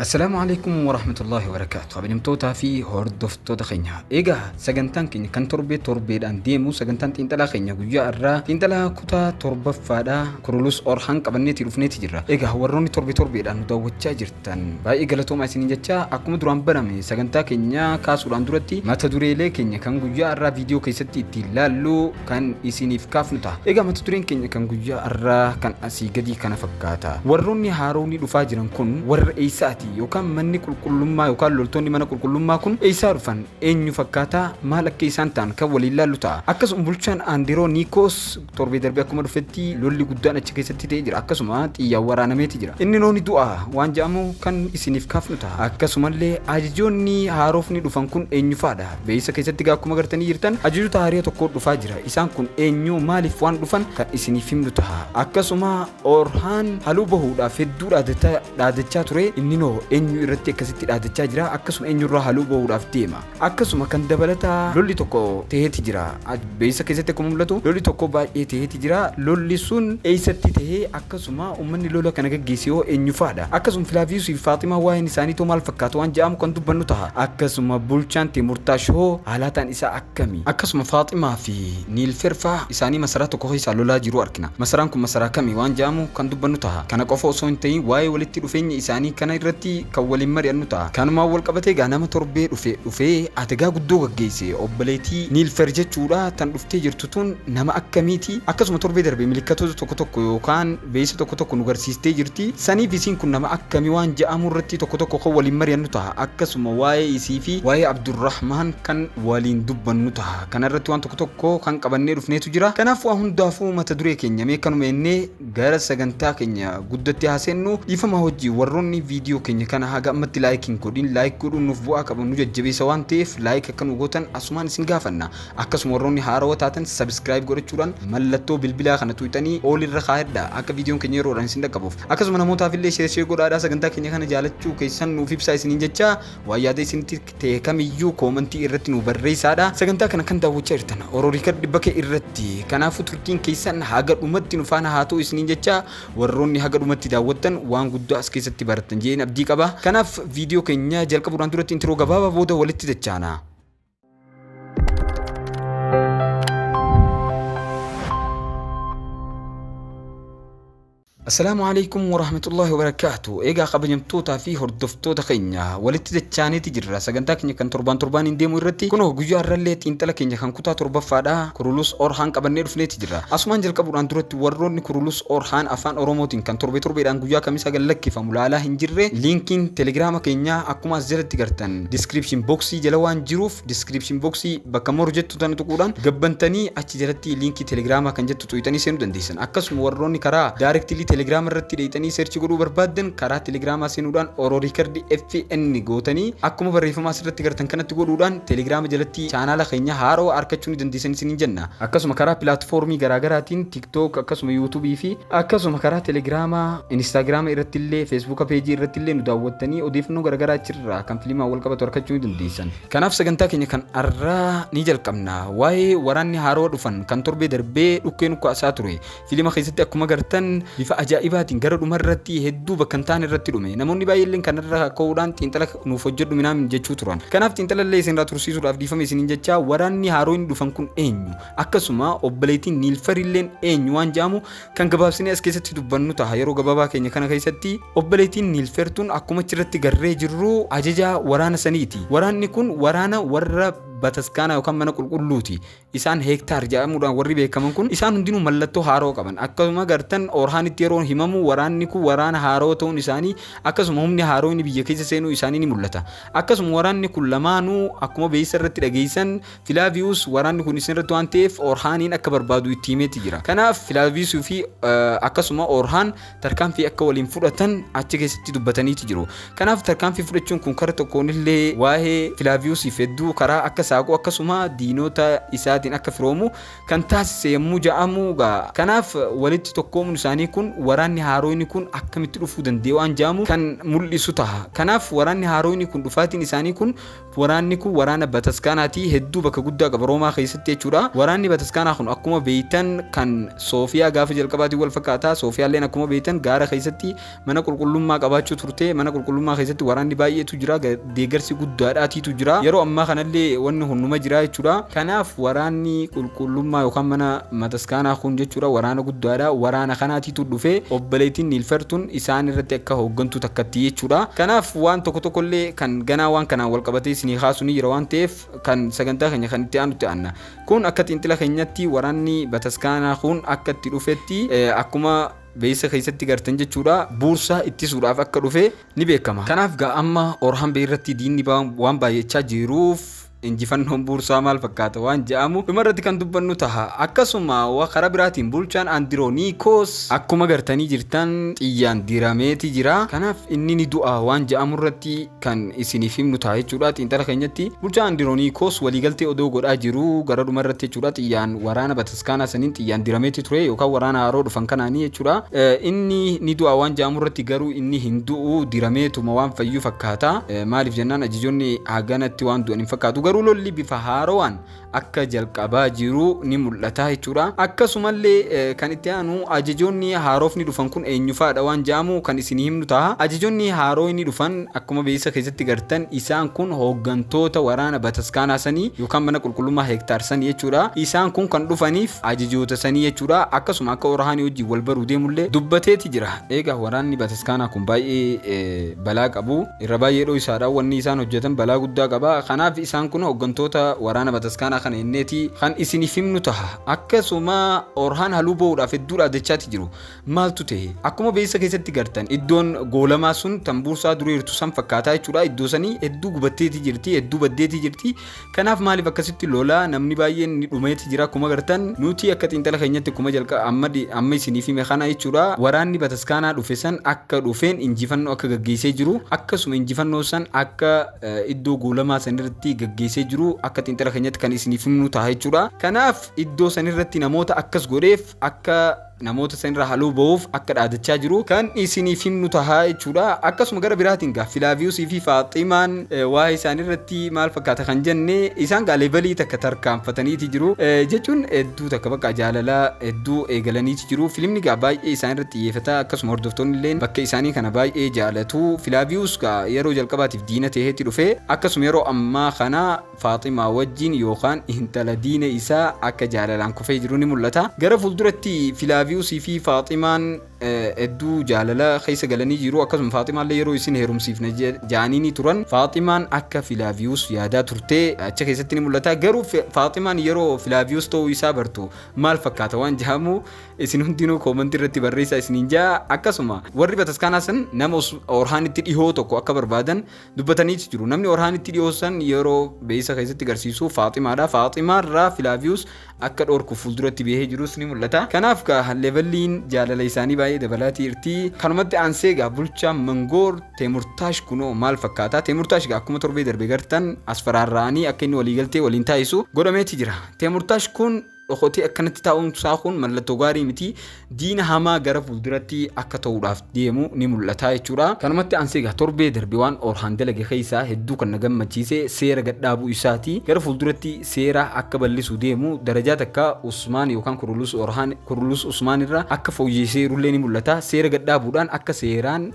Assalaamu alaikum warahmatullahi wabarakaatu kabajamtootaa fi hordoftoota keenya egaa sagantaan keenya kan torbee torbeedhaan deemu sagantaan xiinxalaa keenya guyyaa irraa xiinxalaa kutaa torbaffaadha kurulus orhaan qabanneeti dhufneeti jirra egaa warroonni torbee torbeedhaan nu daawwachaa jirtan baay'ee galatoomaa isin jechaa akkuma duraan barame sagantaa keenya kaasuudhaan duratti mata dureelee keenya kan guyyaa irraa viidiyoo keessatti ittiin laallu kan isiniif kaafnu ta'a. Egaa mata dureen keenya kan guyyaa har'aa kan asii gadii kana fakkaata. Warroonni haaroonni dhufaa jiran kun warra eessaati yookaan manni qulqullummaa yookaan loltoonni mana qulqullummaa kun eessaa dhufan eenyu fakkaataa maal akka isaan ta'an kan waliin laallu ta'a. Akkasuma bulchaan Aandiroo Niikoos torbee darbee akkuma dhufetti lolli guddaan achi keessatti ta'ee jira. Akkasuma xiyyaan waraanameeti jira. Inni nooni du'a waan jedhamu kan isiniif kaafnu ta'a. Akkasumallee ajajoonni haaroofni dhufan kun eenyufaadha? Beeysa keessatti egaa akkuma gartanii jirtan ajajoota haariya tokkoo dhufaa jira. Isaan kun eenyuu maaliif waan dhufan kan isiniif himnu taha. Akkasuma Orhaan haluu bahuudhaaf hedduu dhaadata dhaadachaa ture inninoo eenyu irratti akkasitti dhaadachaa jira akkasuma eenyurraa haluu bahuudhaaf deema. Akkasuma kan dabalataa lolli tokko taheeti jira. Beeksisa keessatti akkuma mul'atu lolli tokko baay'ee taheeti jira. Lolli sun eessatti tahe? Akkasuma ummanni lola kana gaggeesse hoo eenyufaadha? Akkasuma Filaaviyuusii fi Faaximaa waa'een isaaniitoo maal fakkaata waan ja'amu kan dubbannu taha. Akkasuma bulchaan Teemurtaash hoo haalaataan isaa akkami? Akkasuma Faaximaa fi Niilferfaa isaanii masaraa tokko keessaa lolaa jiruu arkina. Masaraan kun masaraa kami waan ja'amu kan dubbannu taha. Kana qofa osoo hin tahin waa'ee walitti dhufeenya isaanii kana irratti kan waliin mari'annu ta'a. Kanumaan wal qabatee egaa nama torbee dhufe dhufee ategaa guddoo gaggeesse obboleetii Niilfer jechuudha tan dhuftee jirtu tun nama akkamiiti? Akkasuma torbee darbe milikkatoota tokko tokko yookaan veeysa tokko tokko nu garsiistee jirti. Saniif isiin kun nama akkami waan ja'amu irratti tokko tokko kan waliin mari'annu taha. Akkasuma waa'ee isii fi waa'ee Abdurrahmaan kan waliin dubbannu taha. Kana irratti waan tokko tokko kan qabannee dhufneetu jira. Kanaaf waa hundaafuu mata duree keenya mee kanuma ennee Gara sagantaa keenya guddatti haa seennu. Dhiifama hojii warroonni viidiyoo keenya kana haga ammatti like hin godhin like godhuun nuuf bu'aa qaba nu jajjabeessa waan ta'eef like akka nu gootan asumaan isin gaafanna. Akkasuma warroonni haarawa taatan subscribe godhachuudhaan mallattoo bilbilaa kana tuqxanii all irra kaayadha akka viidiyoon keenya yeroodhaan isin dhaqqabuuf. Akkasuma namootaaf illee share share godhaadhaa sagantaa keenya kana jaalachuu keessan nuuf ibsaa isiniin jechaa waan yaada isinitti ta'e kamiyyuu koomantii irratti nuu barreessaadha. Sagantaa kana kan daawwachaa jirtan Oro Riikard Bake irratti. Kanaafuu turtiin keessan haga dhumatti nu faana haa ta'u isiniin jecha warroonni haga dhumatti daawwattan waan guddaa as keessatti barattan jedheen abdii qaba. Kanaaf viidiyoo keenya jalqabuudhaan duratti intiroo gabaabaa booda walitti dachaana. Assalaamu Aleeykum Warahmatullaahi Wabarakaatuh Eegaa kabajamtootaa fi hordoftoota keenya walitti dachaaniiti jirra sagantaa keenya kan torbaan torbaaniin deemu irratti kunoo guyyaa irrallee xiinxala keenya kan kutaa torbaffaadha kurulus orhaan qabannee dhufneeti jirra asumaan jalqabuudhaan duratti warroonni kurulus orhaan afaan oromootiin kan torbe torbeedhaan guyyaa kamisaa gad lakkifamu laalaa hin jirre liinkiin telegiraama keenyaa akkuma as jalatti gartan description boxii jala waan jiruuf description box bakka moru jettu tana tuquudhaan gabbantanii achi jalatti liinkii telegiraamaa kan jettu tuqxanii seenuu dandeessan akkasuma warroonni karaa daarektilii telegiraama irratti dheeyxanii seerchi godhuu barbaaddan karaa telegiraamaa seenuudhaan oroo riikardi fn gootanii akkuma barreeffamaa asirratti gartan kanatti godhuudhaan telegiraama jalatti chaanaala keenya haaroo arkachuu ni dandeessan isiniin jenna akkasuma karaa pilaatfoormii garaagaraatiin tiktook akkasuma yuutuubii fi Akkasuma karaa Telegiraama, Inistaagiraama irrattillee, Feesbuuka peejii irrattillee nu daawwattanii odeeffannoo garaagaraa achirraa kan filimaan wal qabatu argachuu ni dandeessan. Kanaaf sagantaa keenya kan har'aa ni jalqabna. Waa'ee waraanni haarawa dhufan kan torbee darbee dhukkee nu kaasaa ture. Filima keessatti akkuma gartan bifa ajaa'ibaatiin gara dhuma irratti hedduu bakka hin taane irratti dhume. Namoonni baay'eelleen kanarraa ka'uudhaan xiinxala nuuf hojjedhu minaam jechuu turan. Kanaaf xiinxalallee isinirraa tursiisuudhaaf dhiifama isiniin jechaa waraanni haaroonni dhufan kun eenyu? Akkasuma obboleettiin Niilfarilleen eenyu waan jedhamu kan gabaabsinee as keessatti dubbannu taha. Yeroo gabaabaa keenya kana keessatti obboleettiin Niilfer tun akkuma achirratti garree jirru ajajaa waraana saniiti. Waraanni kun waraana warra bataskaanaa yookaan mana qulqulluuti. Isaan heektaar jedhamuudhaan warri beekaman kun isaan hundinuu mallattoo haaroo qaban. Akkasuma gartan Orhaanitti yeroo himamu waraanni kun waraana haaroo ta'uun isaanii akkasuma humni haaroo inni biyya keessa seenuu isaanii ni mul'ata. Akkasuma waraanni kun lamaanuu akkuma beeysa irratti dhageessan Filaaviyuus waraanni kun isinirratti waan ta'eef Orhaaniin akka barbaadu itti himeeti jira. Kanaaf Filaaviyuusii fi akkasuma Orhaan tarkaanfii akka waliin fudhatan achi keessatti dubbataniiti jiru. Kanaaf tarkaanfii fudhachuun kun kara tokkoon illee waa'ee Filaaviyuusiif hedduu karaa akka saaqu akkasuma diinota isaatiin akka firoomu kan taasise yommuu ja'amu gaa. Kanaaf walitti tokkoomuun isaanii kun waraanni haaroyni kun akkamitti dhufuu danda'e waan ja'amu kan mul'isu taha. Kanaaf waraanni haaroyni kun dhufaatiin isaanii kun Waraanni kun waraana bataskaanaati. Hedduu bakka guddaa qaba Roomaa keessatti jechuudha. Waraanni bataskaanaa kun akkuma beeytan kan Soofiyaa gaafa jalqabaatiin wal fakkaata. Soofiyaalleen akkuma beeytan gaara keessatti mana qulqullummaa qabaachuu turte. Mana qulqullummaa keessatti waraanni baay'eetu jira. ga- Deeggarsi guddaadhaatiitu jira. Yeroo ammaa kanallee wanni kun numa jira jechuudha. Kanaaf waraanni qulqullummaa yookaan mana mataskaanaa kun jechuudha waraana guddaadha. Waraana kanaati tu dhufe, obboleettiin Niilfer tun isaan irratti akka hooggantuu takkatti jechuu dha. Kanaaf waan tokko tokko illee kan ganaa waan kanaan wal qabatee isinii kaasu ni jira waan ta'eef kan sagantaa keenya kan itti aanutti aanna. Kun akka xiinxila keenyatti waraanni bataskaanaa kun akka itti dhufetti akkuma beeysa keessatti gartan jechuu dha. Buursaa ittisuudhaaf akka dhufe ni beekama. Kanaaf gaa amma Orhanbee irratti diinni waan baay'achaa jiruuf, Injifannoon buursaa maal fakkaata waan ja'amu dhumarratti kan dubbannu taha. Akkasuma wa kara biraatiin bulchaan Andirooniikoos akkuma gartanii jirtan xiyyaan dirameeti jira. Kanaaf inni ni du'a waan ja'amurratti kan isiniif himnu taha jechuudha. Xiinxala keenyatti bulchaa Andirooniikoos waliigaltee odoo godhaa jiruu gara dhumarratti jechuudha xiyyaan waraana Iskaanaa saniin xiyyaan dirameeti ture yookaan waraana haaroo dhufan kanaanii jechuudha. Inni ni du'a waan ja'amu irratti garuu inni hin du'u dirameetuma waan fayyu fakkaata. Maaliif jennaan ajajoonni haganatti waan du'an hin fakkaatu. Garuu lolli bifa haarowaan akka jalqabaa jiru ni mul'ata jechuudha. Akkasumallee kan itti aanu ajajoonni haarofni dhufan kun eenyufaadha waan ja'amu kan isinii himnu taha. Ajajoonni haarooyni dhufan Akkuma beeksisa keessatti gartan isaan kun hooggantoota waraana bataskaanaa sanii yookaan mana qulqullummaa hektaar sanii jechuudha. Isaan kun kan dhufaniif ajajoota sanii jechuudha. Akkasuma akka Orahaanii wajjin wal baruu deemullee dubbateeti jira. Eegaa waraanni bataskaanaa kun baay'ee balaa qabu. Irra baay'ee dhoysaadha. Wanni isaan hojjatan balaa guddaa qaba. Kanaaf isaan kun hooggantoota waraana bataskaanaa kana jenneeti kan isiniif himnu taha. Akkasuma Orhaan haluu ba'uudhaaf hedduu dhaadachaati jiru. Maaltu ta'e? Akkuma beeksisa keessatti gartan iddoon goolamaa sun tan buursaa dureertu san fakkaataa jechuudha. Iddoo sanii hedduu gubatteeti jirti, hedduu baddeeti jirti. Kanaaf maaliif akkasitti lola namni baay'een ni dhumeeti jira. Akkuma gartan nuti akka xiinxala keenyatti kuma jalqa amma di- amma isiniif hime kana jechuudha. Waraanni bataskaanaa dhufe san akka dhufeen injifannoo akka gaggeessee jiru akkasuma injifannoo san akka eh, iddoo goolamaa san irratti gaggeessee jiru akka xiinxala keenyatti kan isiniif himnu ta'a jechuudha. Kanaaf iddoo san irratti namoota akkas godheef akka namoota san irraa haloo ba'uuf akka dhaadachaa jiru kan isiniif himnu tahaa jechuudha. Akkasuma gara biraatiin gaa Filaaviyuusii fi Faaximaan eh, waa'ee isaanii irratti maal fakkaata kan jenne isaan gaa leevalii takka tarkaanfataniiti jiru Eh, jechuun hedduu takka bakka jaalalaa hedduu eegalaniiti jiru. Filimni gaa baay'ee isaan irratti xiyyeeffata akkasuma hordoftoonni illee bakka isaanii kana baay'ee jaalatu. Filaaviyuus gaa yeroo jalqabaatiif diina ta'eetti dhufe akkasuma yeroo ammaa kana Faaximaa wajjin yookaan intala diina isaa akka jaalalaan kufee jiru ni mul'ata. Gara fuulduratti Filaaviyusii fi Faaximaan hedduu jaalala keessa galanii jiru. Akkasuma Faaximaallee yeroo isin heerumsiifna ja'aniinii turan. Faaximaan akka Filaaviyus yaadaa turte achi keessatti ni mul'ata. Garuu Faaximaan yeroo Filaaviyus ta'uu isaa bartu maal fakkaata waan ja'amu isin hundinuu koomantii irratti barreessaa isiniin ja'a. Akkasuma warri bataskaanaa san nama Orhaanitti dhihoo tokko akka barbaadan dubbataniiti jiru. Namni Orhaanitti dhiyoossan yeroo beeysa keessatti garsiisu Faaximaadha. Faaximaarraa Filaaviyus akka dhoorkuuf fuulduratti bahee jirus ni mul'ata. Kanaaf gaa levelliin jaalala isaanii baay'ee dabalaatii irti. Kanumatti aansee gaa bulchaan Mangoor Teemurtaash kunoo maal fakkaata? Teemurtaash gaa akkuma torbee darbe gartan as faraarra'anii akka inni waliigaltee waliin taasisu godhameeti jira. Teemurtaash kun Dhokotee akkanatti taa'uun isaa kun mallattoo gaarii miti. Diina hamaa gara fuulduratti akka ta'uudhaaf deemu ni mul'ata jechuudha. Kanumatti aansee egaa torbee darbe waan Orhaan dalage keessaa hedduu kan na gammachiise seera gadhaabuu isaati. Gara fuulduratti seera akka bal'isuu deemu darajaa takka Usmaan yookaan Kurulus Orhaan Kurulus Usmaan irra akka fooyyeesseerullee ni mul'ata. Seera gadhaabuudhaan akka seeraan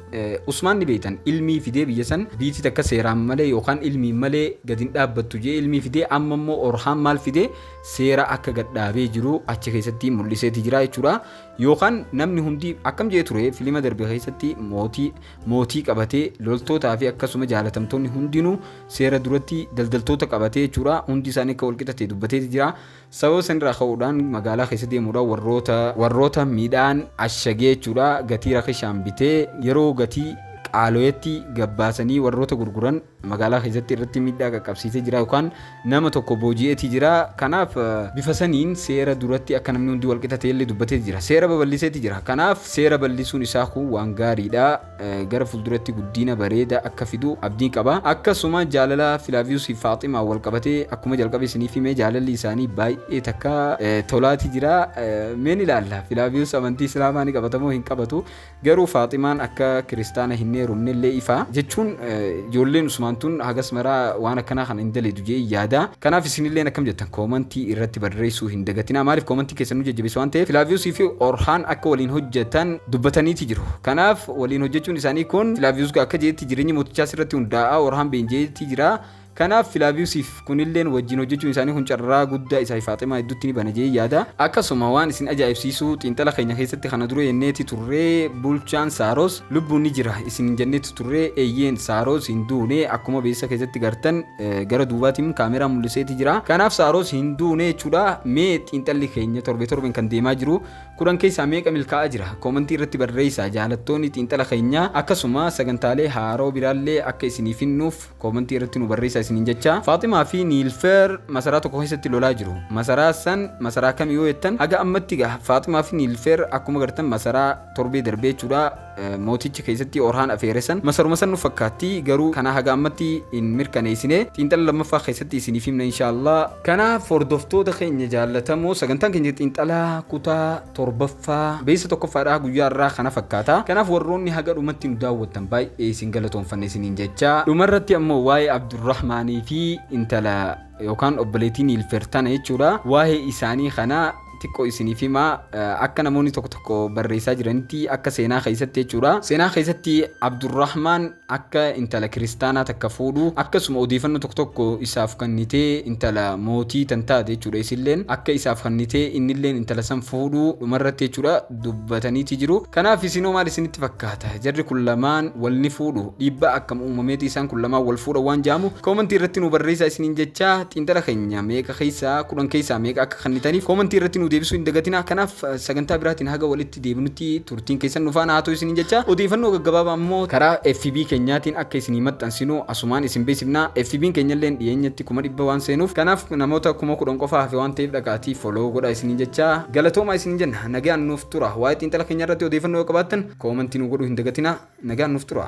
Usmaan ni beektan ilmii fidee biyya san biiti takka seeraan malee yookaan ilmiin malee gadi hin dhaabbattu jedhee ilmii fidee amma immoo Orhaan maal fidee seera akka gad dhaabee jiru achi keessatti mul'iseeti jira jechuudha. Yookaan namni hundi akkam jee ture filima darbe keessatti mootii mootii qabatee loltootaa fi akkasuma jaalatamtoonni hundinuu seera duratti daldaltoota qabatee jechuudha. Hundi isaanii akka walqixa ta'e dubbateeti jira. Sababa sanirraa ka'uudhaan magaalaa keessa deemuudhaan warroota warroota midhaan ashagee jechuudha gatii rakishaan bitee yeroo gatii qaaloyetti gabbaasanii warroota gurguran magaalaa keessatti irratti miidhaa qaqqabsiisee jira yookaan nama tokko booji'eetii jira kanaaf bifa saniin seera duratti akka namni hundi walqixa ta'ellee dubbatee jira seera babal'iseeti jira kanaaf seera bal'isuun isaa kun waan gaariidha gara fuulduratti guddiina bareeda akka fidu abdiin qaba akkasuma jaalala filaaviyus fi faaximaa wal qabatee akkuma jalqabe isiniif himee jaalalli isaanii baay'ee takka tolaati jira meen ilaalla filaaviyus amantii islaamaa ni qabatamoo hin qabatu Garuu Faaximaan akka kiristaana hin heerumnellee ifa. Jechuun ijoolleen Usmaan tun hagas maraa waan akkanaa kana hin dalaydu jedheen yaada. Kanaaf isinilleen akkam jettan koomantii irratti barreessuu hin dagatinaa. Maaliif koomantiin keessan nu jajjabeessa waan ta'eef. Filaaviyuusii fi Orhaan akka waliin hojjatan dubbataniiti jiru. Kanaaf waliin hojjachuun isaanii kun Filaaviyuus akka jedhetti jireenyi mootichaa sirratti hundaa'a, Orhaan beenji'eeti jira. Kanaaf Filaaviyusiif kunilleen wajjin hojjechuun isaanii kun carraa guddaa isaafi Faaximaa idduutti ni bana jedheen yaada. Akkasuma waan isin ajaa'ibsiisu xiinxala keenya keessatti kana dura jenneeti turre bulchaan Saaroos lubbuun ni jira isiniin jenneeti turre eyyeen Saaroos hin duune akkuma beeksisa keessatti gartan gara duubaatiin kaameraan mul'iseeti jira. Kanaaf Saaroos hin duune jechuudha. Mee xiinxalli keenya torbee torbeen kan deemaa jiru kudhan keessaa meeqa milkaa'aa jira? Koomantii irratti barreessaa jaalattoonni xiinxala keenyaa akkasuma sagantaalee haaroo biraallee akka isinii finnuuf. Koomentii irratti nu barreessaa isiniin jecha. Faaximaa fi Niilfeer masaraa tokko keessatti lolaa jiru. Masaraa san masaraa kami yoo jettan haga ammatti gaa Faaximaa fi Niilfeer akkuma gartan masaraa torbee darbee jechuudha mooticha keessatti Orhaan afeere san masaruma san nu fakkaatti garuu kana haga ammatti hin mirkaneessine xiinxala lammaffaa keessatti isiniif himna inshaallah. Kanaaf hordoftoota keenya jaallatamoo sagantaan keenya xiinxalaa kutaa torbaffaa fa, beeysa tokkoffaadha guyyaa har'aa kana fakkaata. Kanaaf warroonni haga dhumatti nu daawwattan baay'ee isin galatoomfanna isiniin jechaa, dhumarratti ammoo waa'ee Abdurrahmaanii fi intala yookaan obboleettii Niilfer tana jechuudha, waa'ee isaanii kana xiqqoo isiniif hima. Akka namoonni tokko tokko barreessaa jiranitti akka seenaa keessatti jechuudha. Seenaa keessatti Abdurrahmaan. akka intala kiristaanaa takka fuudhu akkasuma odeefannoo tokko tokko isaaf kannitee intala mootii tan taate jechuudha isilleen akka isaaf kannitee innilleen intala san fuudhu dhumarratti jechuudha dubbataniiti jiru kanaaf isinoo maal isinitti fakkaata jarri kun lamaan wal ni fuudhu dhiibbaa akkam uumameeti isaan kun lamaan wal fuudha waan jaamu koomantii irratti nu barreessaa isiniin jechaa xiinxala keenya meeqa keessaa kudhan keessaa meeqa akka kannitaniif koomantii irratti nu deebisuu hin dagatinaa kanaaf sagantaa biraatiin haga walitti deebinutti turtiin keessan nu faana haa ta'u isiniin jecha odeeffannoo gaggabaabaa immoo karaa FB keenyaatiin akka isinii maxxansinu asumaan isin beeksifna FBn keenyalleen dhiyeenyatti kuma dhibba waan seenuuf kanaaf namoota kuma kudhan qofa hafe waan ta'eef dhaqaatii follow godhaa isiniin jecha galatoomaa isiniin jenna nagaan nuuf tura waa'ee xiinxala keenya irratti odeeffannoo yoo qabaattan koomantii nu godhuu hin dagatinaa nagaan nuuf tura.